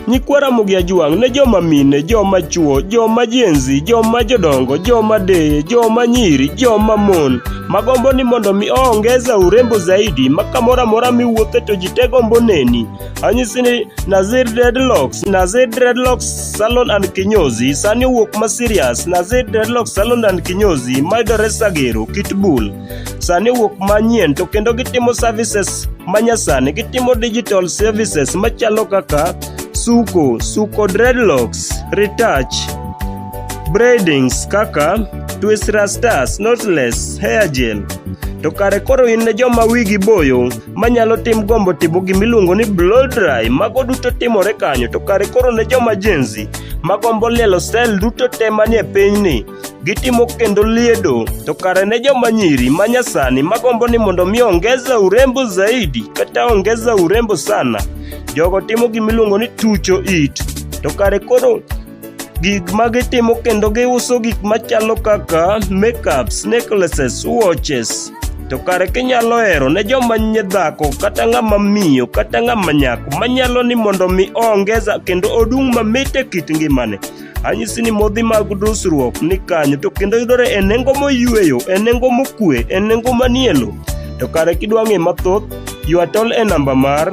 Nyikwa Ramogi Ajwang' ne joma mine, joma chwo, joma jenzi, joma jodongo, joma deye, joma nyiri, joma mon. Magombo ni mondo mi oongeza urembo zaidi ma kamoro amora miwuothe to ji te gombo neni. Anyisi ni Nazir Dreadlocks, Nazir Dreadlocks Salon and Kinyozi, sani owuok ma serious. Nazir Dreadlocks Salon and Kinyozi, mayudore Sagero, Kitbull. Sani owuok manyien to kendo gitimo services manyasani, gitimo digital services machalo kaka suko, suko dreadlocks, retouch, braidings kaka twist rastas, knotless, hair gel. To kare koro in ne joma wigi boyo manyalo tim gombo timo gima iluongo ni blow dry mago duto timore kanyo to kare koro ne joma jenzi magombo lielo sel duto te manie pinyni gitimo kendo liedo to kare ne joma nyiri ma nyasani magombo ni mondo mi ongeza urembo zaidi kata ongeza urembo sana jogo timo gima iluongo ni tucho it to kare koro gik ma gitimo kendo giuso gik machalo kaka makeups, necklaces, watches. To kare kinyalo hero ne joma nye dhako kata ng'ama miyo kata ng'ama nyako manyalo ni mondo mi oongeza kendo odung' mamit e kit ngimane. Anyisi ni modhi mag dusruok ni kanyo to kendo yudore e nengo moyueyo, e nengo mokue, e nengo manielo. To kare kidwa ng'e mathoth, ywa tol e namba mar